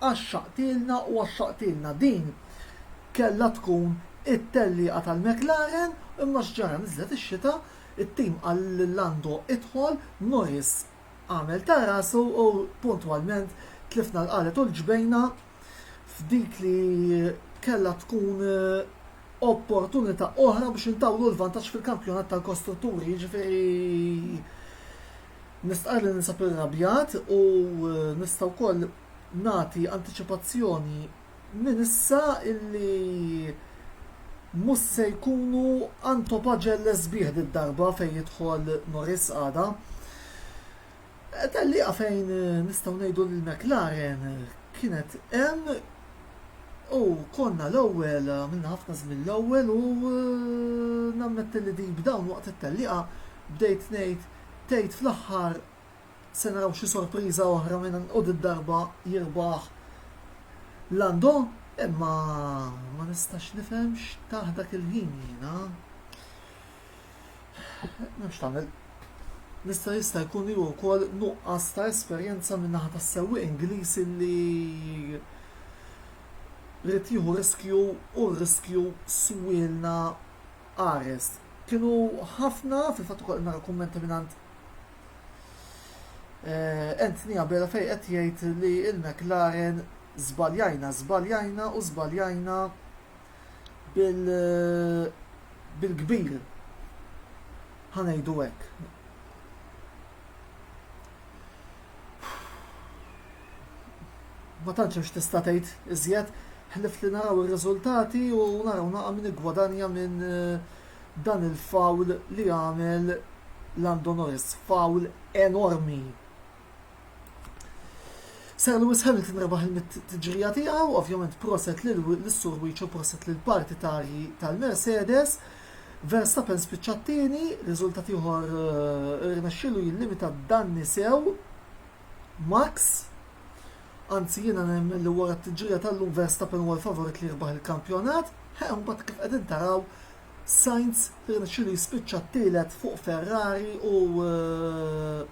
Għaxxaqtilna u għaxxaqtilna. Din kellha tkun it-tellieqa tal-McLaren imma x'ġara niżlet ix-xita, it-tim qal lil Lando idħol, Norris għamel ta' rasu u puntwalment tlifna l-qalet u l-ġbejna f'dik li kellha tkun opportunità oħra biex intawlu l-vantaġġ fil-Kampjonat tal-Kostrutturi, jiġifieri Nistqarr li ninsab irrabjat u nista' wkoll nagħti antiċipazzjoni minn issa illi mhux se jkunu għandhom paġell sbieħ did-darba fejn jidħol Norris għada. Tellieqa fejn nistgħu ngħidu li l-McLaren kienet hemm u konna l-ewwel, għamilna ħafna żmien l-ewwel u nammetti li din b'dawn waqt it-tellieqa bdejt ngħid tgħid fl-aħħar se naraw xi sorpriża oħra minn u did-darba jirbaħ Lando imma ma nistax nifhem x'tah dak il-ħin jiena. Nafx tagħmel Nista' jista' jkun li wkoll nuqqas ta' esperjenza minn naħa tas-sewwieq Ingliż li rrid jieħu riskju u r-riskju swielna Ares. Kienu ħafna, fil-fatt ukoll qed nara kummenti mingħand Anthony Abela fejn qed jgħid li l-McLaren żbaljajna, żbaljajna u żbaljajna bil bil-kbir. Ħa ngħidu hekk. Ma tantx hemm x'tista' tgħid iżjed ħlief li naraw ir-riżultati u naraw naqra min iggwadanja minn dan il-fawl li għamel Lando Norris. Fawl enormi. Sir Lewis Hamilton rebaħ il-mitt tiġrija tiegħu, ovvjament proset lis-Sur Wiċċu proset lill-partitarji tal-Mercedes. Verstappen spiċċa t-tieni, riżultat ieħor irnexxielu jillimita d-danni sew Max. Anzi jiena nemmen li wara t-tiġrija tal-lum Verstappen huwa l-favorit li jirbaħ il-kampjonat, ħe mbagħad kif qegħdin taraw Sainz irnexxielu jispiċċa t-tielet fuq Ferrari u eh,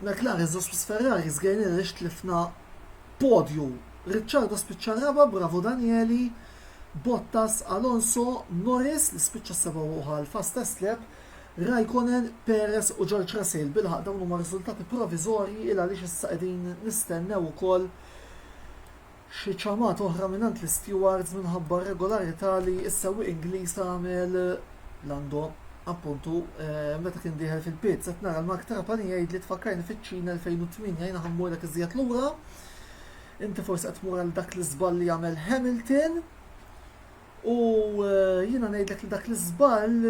McLaren żosp s-Ferrari żgħirni għaliex tlifna podju. Ricciardo spiċċa r-raba' bravo Danieli, Bottas, Alonso, Norris li spiċċa s-seba' u ħa l-fastest lap, Raikkonen, Perez u George Russell. Bilħaq dawn huma riżultati proviżorji il għaliex issa qegħdin nistennew ukoll xi ċamat oħra mingħand l-istewards minħabba r-regolarità li s-sewwieq Ingliż għamel Lando, appuntu, meta kien dieħel fil-pits. Qed nara l-Mark Trapani jgħidli tfakkarni fiċ-Ċina 2008 jiena ħa mmurek iżjed lura. Inti forsi qed tmur għal dak l-iżball li għamel Hamilton. U eh, jiena ngħidlek li dak l-iżball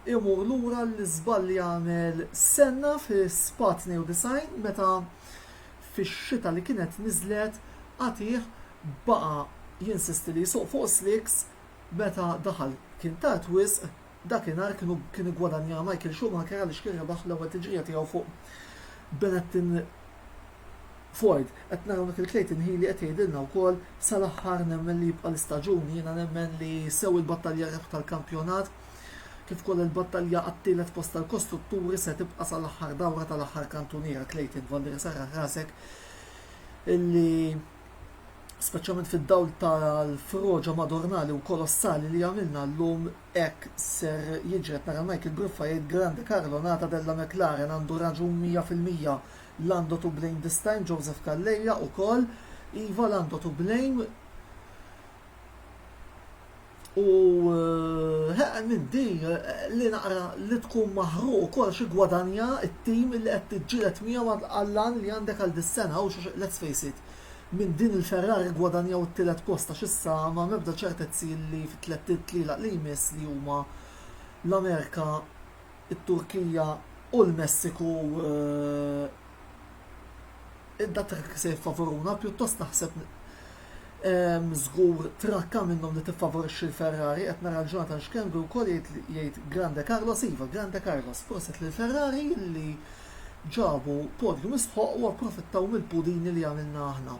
imur lura l-iżball li għamel Senna fi Spa 92 meta fix-xita li kienet niżlet agħtih baqa' jinsisti li jsuq fuq slicks meta daħal kien tard wisq dakinhar kienu kien iggwadanja Michael Schumacher għaliex kien rebaħ l-ewwel tiġrija tiegħu fuq Benetton Ford. Qed nara hawnhekk lil Clayton Healy qed jgħidilna wkoll sal-aħħar nemmen li jibqa' l-istaġun jiena nemmen li sew il-battalja rebħ tal-kampjonat Kif ukoll il-battalja għat-tielet post tal-kostrutturi se tibqa' sal-aħħar dawra tal-aħħar kantuniera Clayton Van der Sarre Hrasek illi speċjalment fid-dawl tal-froġa Madornali u kolossali li għamilna llum hekk ser jiġri qed nara Michael Gruffa jgħid Grande Carlo Nata della McLaren għandu raġun 100% Lando to blame this time Joseph Calleja ukoll Iva Lando to blame U heq nindi li naqra li tkun maħruq ukoll xi gwadanja t-tim li qed tiġġieled miegħu għall-għan li għandek għal dis-sena għax let's face it, minn din il-Ferrari ggwadanjaw it-tielet post għax issa m'hemm ebda ċertezzi li fit-tlett itlieq li jmiss li huma l-Amerika, it-Turkija u l-Messiku, id-dattrik se jiffavoruna, pjuttost naħseb żgur trakka minnhom li tiffavorixxi l-Ferrari, qed nara l-Jonathan Schembri wkoll jgħid Grande Carlos iva, Grande Carlos, prosit lil Ferrari li ġabu podium sħoq u approfittaw mill-pudini li għamilna aħna.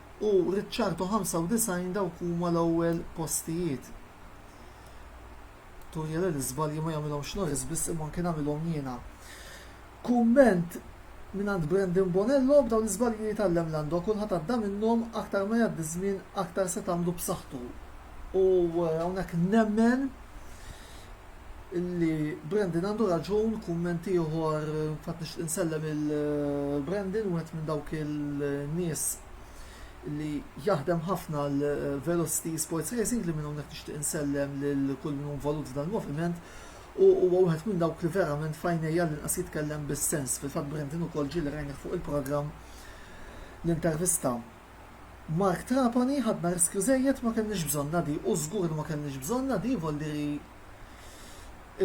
u Ricciardo 95 dawk huma l-ewwel postijiet. Turi li l-iżbalji ma jagħmilhomx Norris biss imma anke nagħmilhom jiena. Kumment minn għand Brandon Bonello b'dawn l-iżbalji li jtallem Lando kulħadd għadda minnhom aktar ma jgħaddi żmien aktar se tagħmlu b'saħħtu. U eh, hawnhekk nemmen Li Brandon għandu raġun, kumment ieħor, fatt nixtieq insellem il-Brandon, wieħed minn dawk il-nies li jaħdem ħafna l-Velocity Sports Racing li minn hawnhekk nixtieq insellem lil kull min involut f'dan il-moviment u huwa wieħed minn dawk li verament fajnejja li nqas jitkellem bis-sens. Fil-fatt Brandon ukoll ġieli rajnih fuq il-programm l-intervista Mark Trapani, Ħadna riskju żejjed, ma kellniex bżonnha di u żgur li ma kellniex bżonnha di, Voldiri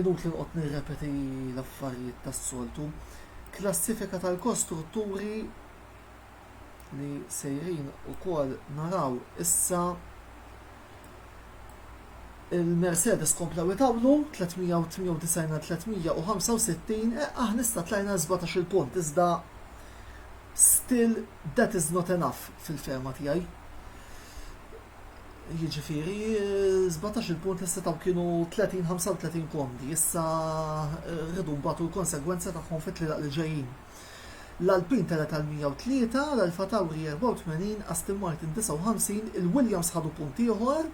inutli noqgħod nirrepeti l-affarijiet tas-soltu. Klassifika tal-kostrutturi li sejrin ukoll naraw issa il-Mercedes komplew itawlu 398 għal 365, eqqaħ nista tlajna 17 il-punt iżda Still that is not enough fil-fehma tiegħi. Jiġifieri, żbatax il-punt li setgħu kienu 30-35 komdi, issa rridu mbagħtu l-konsegwenza tagħhom fit-tlielaq li ġejjin. L-Alpin tela' tal-103, l-Alfa Tauri 84, Aston Martin 59, il-Williams ħadu punt ieħor,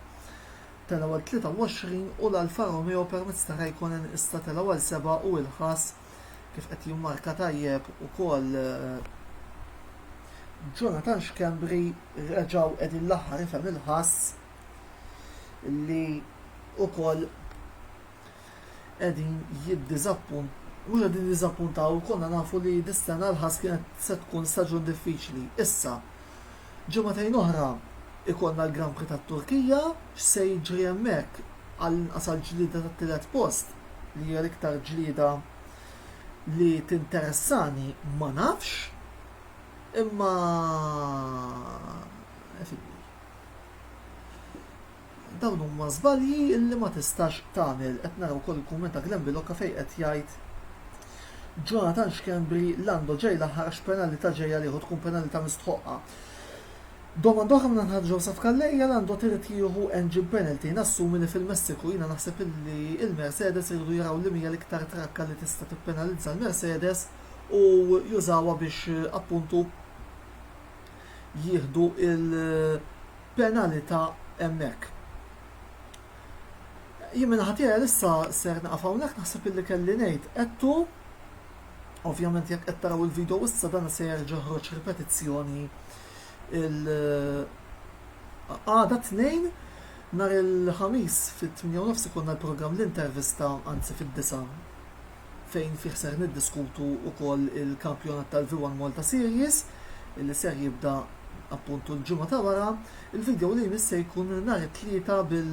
telgħu għal 23 u l-Alfa Romeo permezz ta' Raikkonen issa telgħu għal 7 u ilħas kif qed jimmarka tajjeb ukoll Jonathan Schembri reġgħu qegħdin l-aħħar ifhem il-ħass li ukoll qegħdin jiddiżappun u qegħdin jiżappuntaw konna nafu li dis-sena l-ħass kienet se tkun staġun diffiċli. Issa, Ġimagħtejn oħra jkollna l-Grand Prix tat-Turkija, x'se jiġri hemmhekk għall-inqas għall-ġlieda tat-tielet post li hija l-iktar ġlieda li tinteressani ma nafx, imma Dawn huma żbalji li ma tistax tagħmel. Qed nara wkoll il-kumment ta' Glenn Bilocca fejn qed jgħid Jonathan Schembri, Lando ġej l-aħħar għax penalità ġej għalih u tkun penalità mistħoqqa. Domanda oħra mingħand Ħaġa Joseph Calleja, Lando t'irid jieħu engine penalty, nassumi li fil-Messiku. Jiena naħseb illi il-Mercedes iridu jaraw liema hija l-iktar trakka li tista' tippenalizza l-Mercedes u jużawha biex appuntu jieħdu l-penalità hemmhekk. Jien minn ħatija issa ser naqaf hawnhekk naħseb illi kelli ngħid qedtu ovvjament jekk qed taraw il-video issa dan se jerġa' ħroġ ripetizzjoni il għada tnejn nhar il-ħamis fit-8 nofs ikunna l-programm l-intervista anzi fid-disa' fejn fih ser niddiskutu wkoll il-kampjonat tal-V1 Malta Series li ser jibda appuntu l-ġimgħa ta' wara. Il-video li jmiss se jkun nhar it-tlieta bil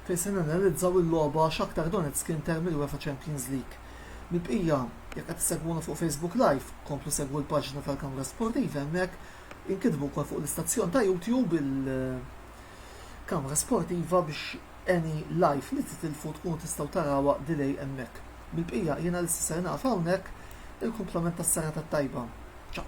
fejn se nanalizzaw il-logħba Shakhtar Donetsk Inter mill-UEFA Champions League. Mill-bqija, jekk qed segwuna fuq Facebook Live, komplu segwu l-paġna tal-Kamra Sportiva hemmhekk, inkitbu wkoll fuq l-istazzjon ta' YouTube il-Kamra Sportiva biex Any life li titilfu tkunu tistgħu tarawha delay hemmhekk. Bil-bqija jiena lissa ser naqaf hawnhekk, il-kumplament tas-serata t-tajba. Ciao.